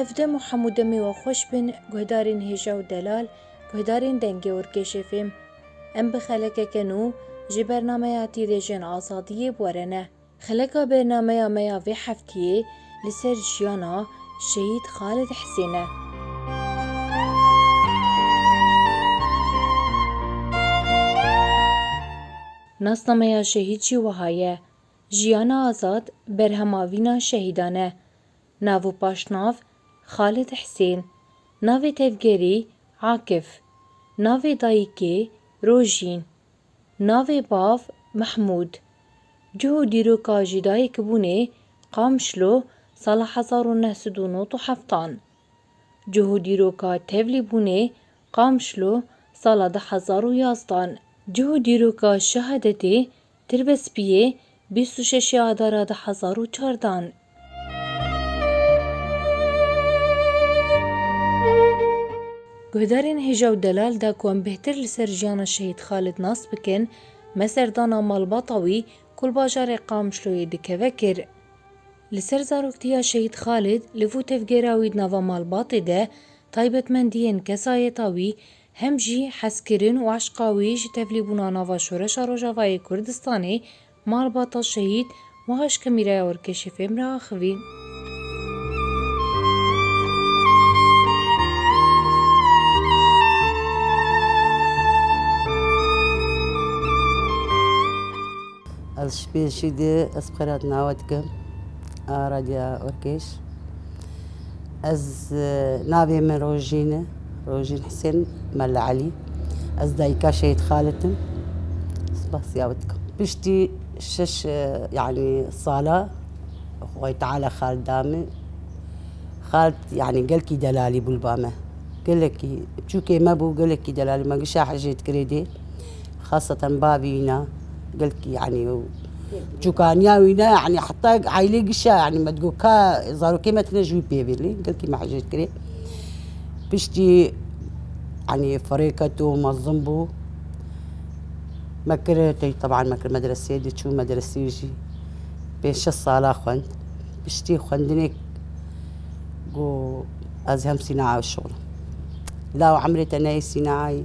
Ev dem û hemû demê we xweş bin guhdarên hêja û delal, guhdarên dengê Urkêşê fêm. Em bi xelekeke nû ji bernameya Tîrêjên Azadiyê bi were ne. Xeleka bernameya me ya vê heftiyê li ser jiyana Şehîd Xalid Hisên e. Nasnameya şehîd jî wiha ye, Jiyana azad berhema vîna şehîdan e. Nav û paşnav, Xalid Hisên, navê tevgerî, Akif, navê dayîkê, Rojîn, Navê bav Mehmûd, cih û dîroka jîdayîkbûnê Qamşlo sala hezar û neh sed û nod û heftan, cih û dîroka tevlîbûnê Qamşlo sala du hezar û yazdan, cih û dîroka şehadetê Tirbespiyê bîst û şeşê Adara du hezar û çar dan. Guhdarên hêja û delal de ku em bêhtir li ser jiyana Şehîd Xalid nas bikin, me serdana malbata wî ku li bajarê Qamişloyê dikeve kir. Li ser zaroktiya Şehîd Xalid li vû tevgera wî di nava malbatê de taybetmendiyên kesayeta wî hem jî hezkirin û eşqa wî ji tevlîbûna nava Şoreşa Rojavayê Kurdistanê, malbata şehîd wiha ji Kamîraya Orkeşê fêm re axivî. Ez ji pêşî dê ez xwe re nawe dikim a Radya Urkêş. Ez navê min Rojîn e, Rojîn Hisên Mella Elî. Ez dayîka Şehîd Xalid im. Spas ya wî dikim. Piştî şeş yanî sala Xwedayê Teala Xalid da min. Xalid yanî gelkî delalî bû li ba me. Gelekî çûkê me bû, gelekî delalî me gişa hicê dikirê dê. Xaseten bavî wî ne gelkî yanî ew çûkaniya wî ne yanî heta eylê gişiya yanî me digot ka zarokê me tune ji wî pê bê lê gelkî me hicret kirê. Piştî yanî ferê keto mezin bû me kir tey teban me kir medreseyê dê çû medreseyê jî pênc şeş sala xwend. Piştî xwendinê got ez hem sînaya şixulm. Law emrê te neyê sînayayî.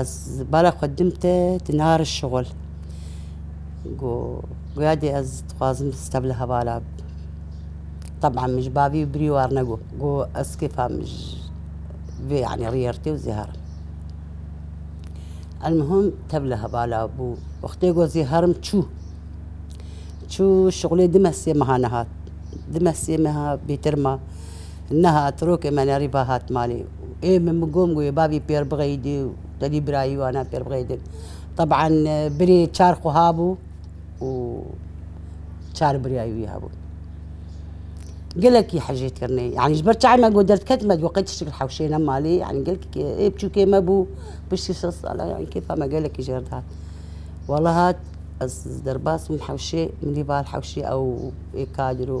Ez bala xwe din te tu nari şixul. Go goya dê ez dixwazim steb li hevala teb'a min ji bavî birî war ne go. Go ez kêfa min ji vê yanî riyê rtê û zêherim. El mihim tev li hevala bû. Wextê go zêherim çû. Çû şixulê dime sê meha nehat. Dime sê meha bêtir ma. Niha trokê me nerî va hat malê û ê min bi gom goyê bavî pêr bixeyidê û tedî birayî wana pêr bixeyidin. Teb'an birê çar xwe habû û çar birayî wî hebûn. Gelekî hicêt kirine yanî ji ber çavê me got derdket me got qey tiştî li hewşê ne malê yanî gelkî ê biçûkê me bû piştî sed salan yanî kêfa me gelekî jêr dihat. Walahat ez derbas bûm hewşê min dî va li hewşê ew ê kadir û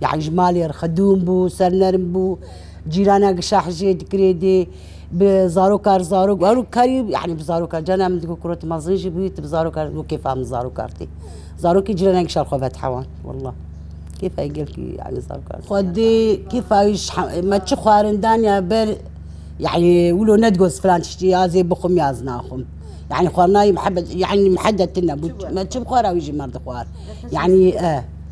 Yan ji malê re xedûn bû, sernerm bû, cîrana gişa hijê dikirê dê, bi zaroka re zarok her karî yanî bi zarok re carna min digot kiro tu mezin jî bûyî tu bi zarok re wê kêfa min zarok re tê. Zarokê cîrana gişa xwe vetehewan wela. Kêfa wê gelkî yanî zarok re xwedê kêfa wî ji hemû me çi xwarin daniya ber yanî wilo nedigot ez filan tiştî yaz ê bixwim yaz naxwim. Yanî xwarina wî mihebet yanî mihedetin nebû me çi bixwara wî jî me dixwar yanî eh.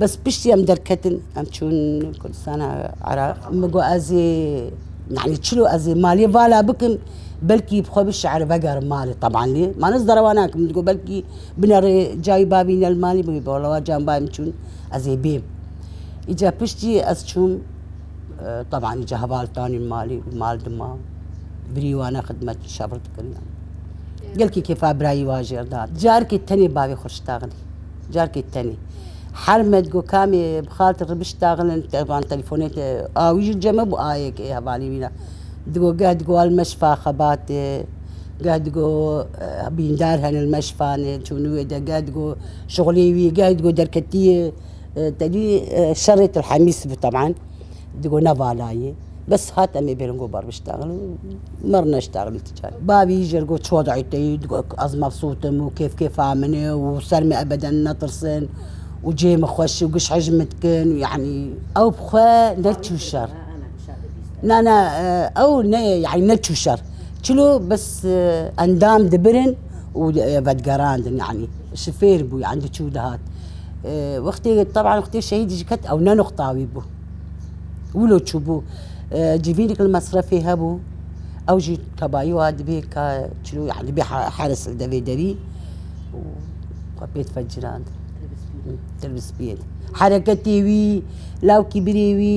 Bes piştî em derketin em çûn Kurdistana Iraq min got ez ê yanî çilo ez ê malê vala bikim belkî bi xwe bi şi'er vegerim malê teban lê ma ez derewa nakim min digot belkî binerê cayî bavî ne li malê bûyê bala wa cayê min bavê min çûn ez ê bêm. Îcar piştî ez çûm teban îcar heval danîm malê û mal dima birî wan e xidmet û şebir dikiriyan. Gelkî kêfa birayî wan jê re da. Carikê tenê bavê xwe şitaxinê. Carkê tenê. Her me digo kamê bi xaltê ribişt daxilin van telefone te a wî jî ceme bû ayek ê hevalî wî ne. Digo geh digo al meşfa xebatê geh digo bîndar hene li meşfanê çûnî wê de geh digo şixulê wî geh digo derketî ye tedî şerê til hemîs bû teban digo nevalayê. Bes hat em ê bêrin ku bar biştexilin me re neştexilî ti carî. Bavî jê re got çiwa dayê teyî digot ku ez mefsût im û kêf kêfa min e û ser min ebeden netirsin û cihê min xweş û giş hicv min dikin yanî ew bi xwe neçû şer. Na na ew ne yanî neçû şer. Çilo bes endam dibirin û vedigerandin yanî ji fêr bû yanî diçû dihat. Wextê teban wextê şehîdî jî ket ew ne nuqta wî bû. wilo çûbû civîneke li mesrefê hebû ew jî tebayî wa dibê ka çilo yan dibê heris li devê derî û xwe pê dife ciran til bi spî ye hereketê wî lawikî birê wî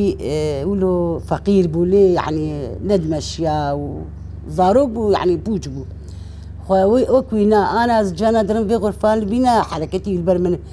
wilo feqîr bû lê yanî ne dimeşiya û zarok bû yanî pûç bû xwe wê wek wî na ana ez ciyana din vê xurfan li bîna hereketî li ber min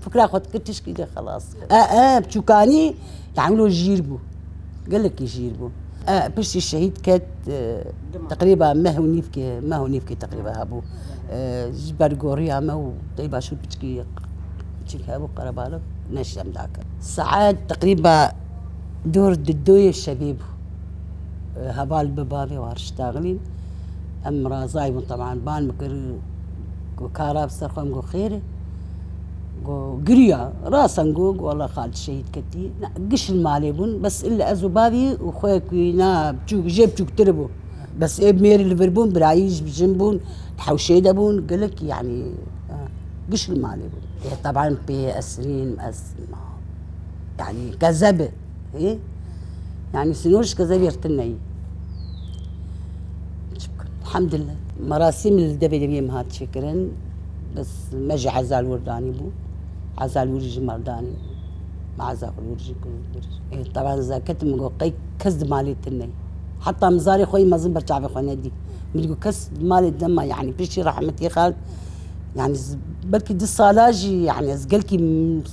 Fikra xwe dikir tişkî de xelas. E e biçûkanî yani wilo jîr bû. Gelekî jîr bû. E piştî şehîd ket teqrîba meh û nîvkê meh û nîvkê teqrîba hebû. Ji ber goriya me û dey başûr piçikî piçik hebû qerebalix neş dem dakir. Saet teqrîba dor di doyê şevê bû. Heval bi bavê war şitaxilîn em razay bûn taban ban bikir got kar a bi ser xwe em got xêr e. Got, giriya. Rasan got, wala xalit şehîd ketî. Na, giş li malê bûn, bes illa ez û bavî û xwe ku na biçûk jê biçûktir bû. Bes ê mêrî li vir bûn, birayî ji jin bûn, di hewşê de bûn, gelek yanî giş li malê bûn. Teban pê esrîn ez ma yanî kezeb e. Hê? Yani sınor ji keze vêrtin neyî. Hemdillah merasîm li devê deviyê min hat çêkirin bes me jî ezal wir danî bû. Ezal wir jî mal danî bû. Me ezal wir jî kir wir jî. Ê tevan zeket min got qey kes di malê te neyî. Heta min zarê xwe yî mezin ber çavê xwe nedî. Min got kes di malê te ma yanî piştî rehmetê xwe yanî belkî di sala jî yanî ez gelkî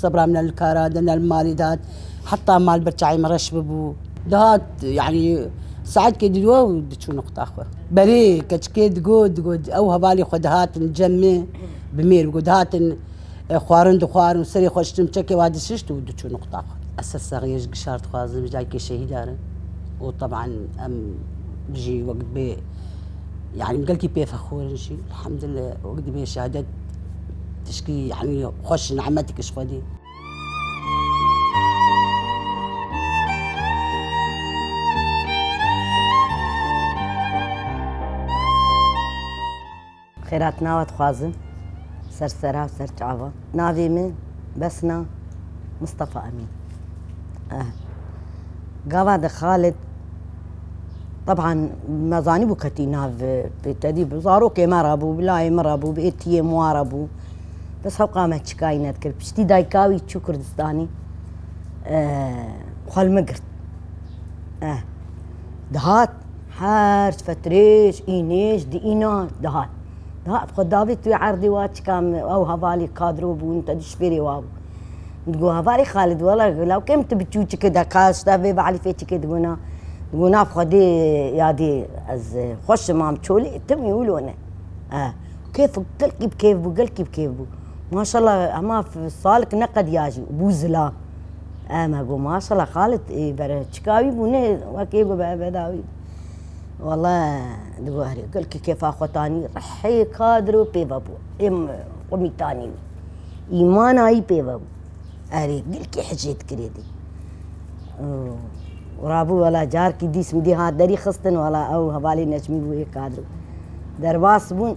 sebra min li kara de ne li malê de hat Heta malbir çayê min reş bibû. Dihat yanî saetkê dilo û diçû noqta xwe. Berê keçikê digot, digot ew hevalê xwe dihatin cem me bi mêr bigot. Dihatin xwarin dixwarin û serê xwe ştim çekê wa dişişt û diçû noqta xwe. Ez ser saxiyê ji Gişar dixwazim ji dayikê şehîdar im û teban em jî wek dibê yanî gelkî pê fexûr in jî elhamdulilê wek dibê şehadet tişkî yanî xweş nemetik ji xwedî. Xêratnava dixwazim ser sera ser çava. Navê min Besna Mustafa Emîn. Eh. Gava de Xalid Taban me zanîbû ketî nav pêtedî zarokê me re bû, bilayê min re bû, bi êtiyê min re bû. Kes heqa me çikayî nedikir. Piştî dayika wî çû Kurdistanî xwe li min girt. Dihat her fetirêj înêj di îna dihat. Dihat xwe davî tu erdî wa çika min ew hevalî kadro bûn te di şpêrê wa bû. Digo hevalî Xalid wela law kêm tu bi çûçikê de ka ji te vê belî fê çikê dibûna. Digo na xwedê yadê ez xweşim mam çolê tim î wilo ne. kêf gelkî bi kêf bû gelkî bi kêf bû. Maşallah hema salik neqediya jî bû zilam. Eme got maşallah Xalid ê bere çika wî bû nê wekê got be beda wî. Wala digot herî gelkî kêfa xwe tanî rihê kadir û pê vebû. Êm xwe mîtanî wî. Îmana wî pê vebû. Erê gelkî hicê dikirê dî û rabû wala carkî dîs min dî hat derî xistin wala ew hevalê Necmî bû ê kadir bû. Derbas bûn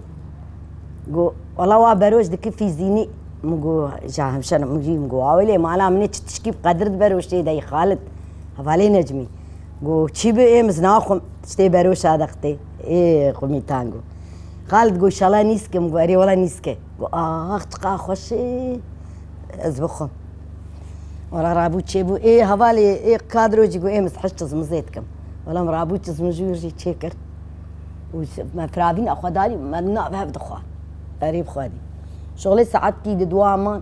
got wala wa beroj dikir fîzînî min got ja hemşer min jî min got awê lê mala min ê çi tişkî bi Qedir di beroşê de yî Xalid hevalê Necmî got çî bi êm ez naxwim tiştê beroşa de qitê ê xwimîtan got. Xalid got îşallah nîske min got erê wala nîske got ax çiqas xweş ê. Ez bi xwe. Wala rabû çêbû ê hevalê ê kadro jî got ê min heşt çizmizê dikim. Wala min rabû çizmij jûr jî çêkir. Û me firavîna xwe darî me di nav hev dixwa. Erê bixwedî. Şixulê saetkî di dua man.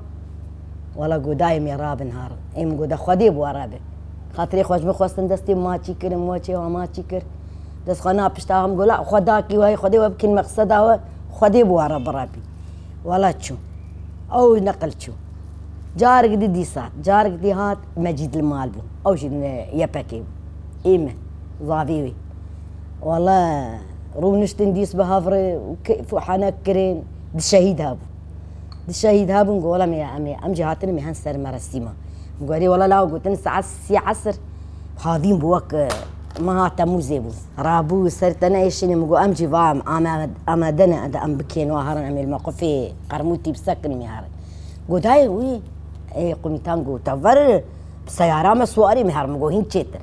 Wala got dayê min ê rabin har. Ê min got de xwedê bû were be. Xatirê xwe ji min xwestin destê min ma çî kir min we çêwa ma çî kir. Dest xwe na pişta min got la xwedakî wayê xwedê we bikîn meqseda we xwedê bû were birebî. Wala çûm. Ew li neqil çû. Carek dî dîsa, carek dî hat, Mecîd li mal bû. Ew jî li YPK'ê bû. Ê min, zavê wî. Walla rûniştin dîs bi hev re û keyf û henek kirin. Di şehîd hebûn. Di şehîd hebûn got, Walla mîya em ê. Em jî hatine mîhen ser merasîma. Min got, Erê walla lawa gotin saet sî esr havîn bû wek Meha Temûzê bû. Rabû ser te neyêşînê min got em jî va em amade ne ed em bikên wa herin em ê li me xwe fê Qermûtî bi sekin mî herin. Got hey wî ê qumîtan got te ver bi seyara me swarî mî herin min got hîn çêtir.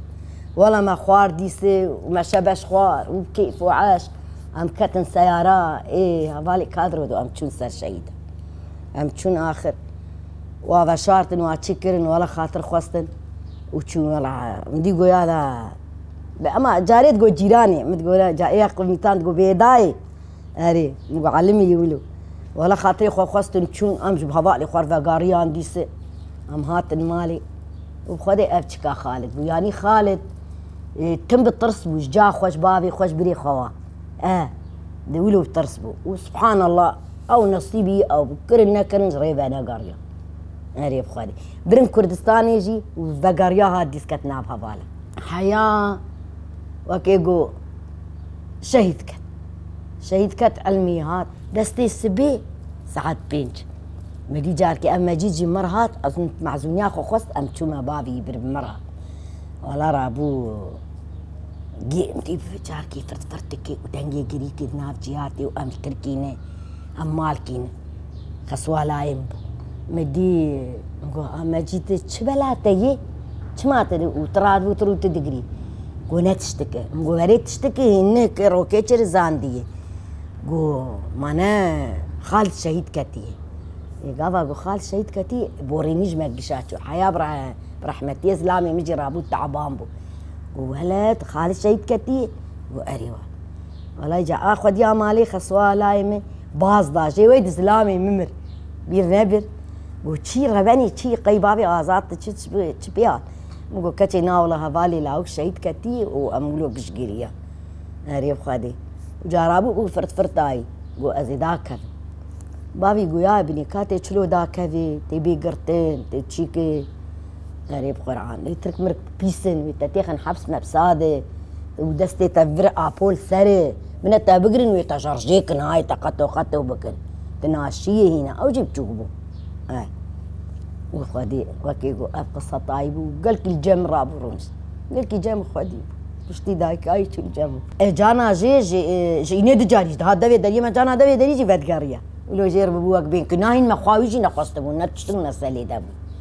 Wela me xwar dîsê û me şe beş xwar û bi keyf û eşq em ketin seyara ê hevalê Kadro de û em çûn ser şehîdan. Em çûn axir. Wa veşartin, wa çi kirin, wa li xatir xwestin û çûn. Wela min dî goya da bi ema carê digot cîranê. Min digot re ca êya qivnîtan digot bê dayê. Erê min got Elimî yî wilo. Wela xatirê xwe xwestin çûn. Em ji bi hevalê xwe re vegariyan dîsê. Em hatin malê û bi xwe de ev çika Xalid bû. Yanî Xalid tim bi tirs bû ji ca xwe, ji bavê xwe, ji birê xwe wa. E di wilo bi tirs bû û subhanallah. Ew nesîbî ew kirin nekirin ji rê venegeriya. Erê bi xwedê. Birin Kurdistanê jî vegeriya hat dîsket nav hevala. Heya wekê got şehîd ket. Şehîd ket Elmî hat. Destê sibê saet pênc. Medî carkê ev Mecîd jî mir hat ez mezûniya xwe xwest em çûme bavî bir mir hat. Wala rabû. Gêndî bi vicarkî firt firt dike û dengê girî kir nav cîhatê û em li tirkî ne, em malkî ne. Xeswalayê min bû. Me dî, min got a Mecîd tu çi bela te yê? Çima tu û tu radibû tu rû tu digirî? Got ne tiştike. Min got erê tiştike hîn ne ke rokê çi rizandiye. Got ma ne Xalid şehîd ketiye. Ê gava got Xalid şehîd ketiye, borî min jî me gişa çû. Heya bi rehmetî ye zilamê min jî rabû taban bû. Got welet xalis şehîd ketî got erê wan. Welay ca a xwediya malê xeswa layê min baz da jê wê di zilamê min mir. Bîr nebir. Got çî revenî çî qey bavê azad di çi çi pê hat. Min got keçê nawla hevalê lawik şehîd ketî û em wilo piştgiriya. Erê xwedê. Cara bû û firt firt dayî. Got ez ê dakevim. Bavî goyaye binê ka tê çilo dakevê, tê bê girtin, tê çîkê. Xerîb Quran ê tirk mirk pîs in wê te têxin heps meps adê û destê te vir Apol serê min e te bigirin wê te şerjê kin hay te qeto qeto bikin tu naşiyê hîna ew jî biçûk bû eh wê xwedî wekî got ev qisa tayî bû gelkî li cem rabû rûnişt gelkî cem xwedî bû piştî dayikayî çû li cem e cana jê jê ji înê du carî jî dihat devê deriyê me cana devê derî jî vedigerîya wilo jêr bûbû wek bên ku nahîn me xwe wî jî nexwestibû ne tişt bû ne selê de bû.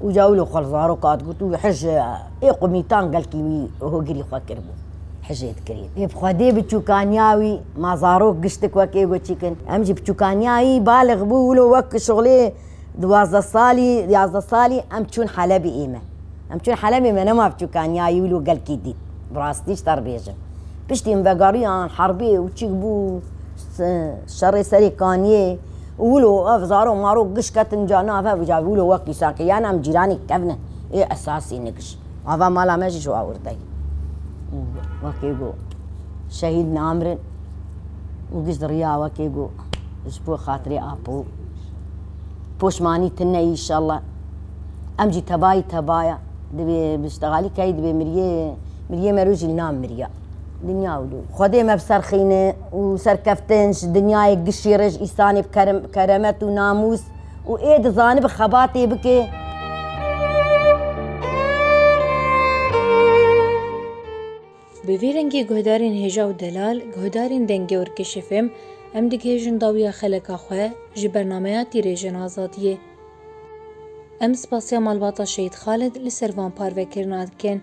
Uca wilo xwe li zaroka digot û hej ê qumîtan gelkî wî hogirî xwe kiribû. Hejê dikirî. Ê bi xwedê bi çûkaniya wî ma zarok giştik wek ê got çîkin. Em jî bi çûkaniya wî balix bû wilo wek şixulê duwazdeh salî, yazdeh salî em çûn Helebê ê me. Em çûn Helebê me nema bi çûkaniya wî wilo gelkî dît. Bi rastî ji te re bêjim. Piştî em vegeriyan herbê û çîk bû şerê serê kaniyê Wilo ev zaro maro giş ketin ca na ev ja wilo wek dîsa ke yan em cîranî kevne ê esasî ne giş ava mala me jî ji awirtayî û wekê ku şehîd namirin û giş diriya wekê ku ji bo xatirê apo poşmanî tine înşallah em jî tebayî tebaya divê bi ştegalî keyî divê miriyê miriyê me rojî li nav miriya dinya wilo xwedê me biserxîne. û serkeftin ji dinyayê gişî re ji îsanê bi keremet û namûs û ê dizanibe xebatê bike. Bi vî rengî guhdarên hêja û delal, guhdarên dengê û rikişê fêm, em digihêjin dawiya xeleka xwe ji bernameya Tîrêjên Azadiyê. Em spasiya Malbata Şehîd Xalid li ser van parvekirina dikin.